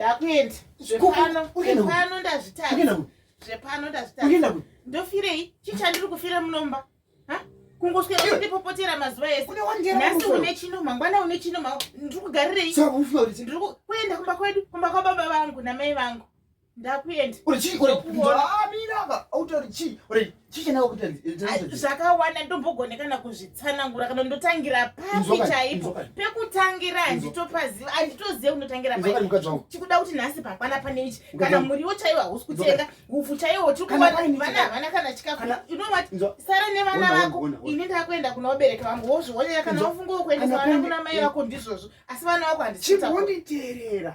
ndakuenda zvepano zvepano ndazvitadza zvepano ndazvitadza ndofirei chii chandiri kufira munomba kungoswera kundipopotera mazuva ese nhasi une chino mangwana une chino ndiri kugarirei kuenda kumba kwedu kumba kwababa vangu namai vangu ndakuenda zvakawanda ndombogone kana kuzvitsanangura kana ndotangira papi chaipo pekutangira handitopaziva handitozive kundotangira pachikuda kuti nhasi pakwana pane ichi kana muriwo chaiwo hausi kutenga hupfu chaiwo chikuona vana havana kana chikafu inovati sara nevana vako ini ndakuenda kuna vabereki vangu wozvionera kana wafunga wokuendesa vana kuna mai vako ndizvozvo asi vana vako handichitawonditerera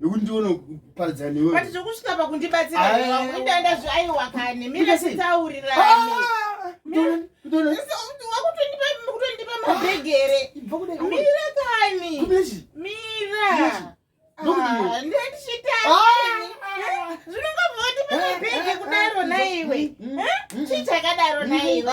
nekuti ndione kuparidza newe but zvokusvika pakundibatsira ndaenda zviaiwa kani mira titaurirane wakutondipa mabhegere mira kani mira zvinongavoti pamabhege kudaro naiwe chii chakadaro naiwe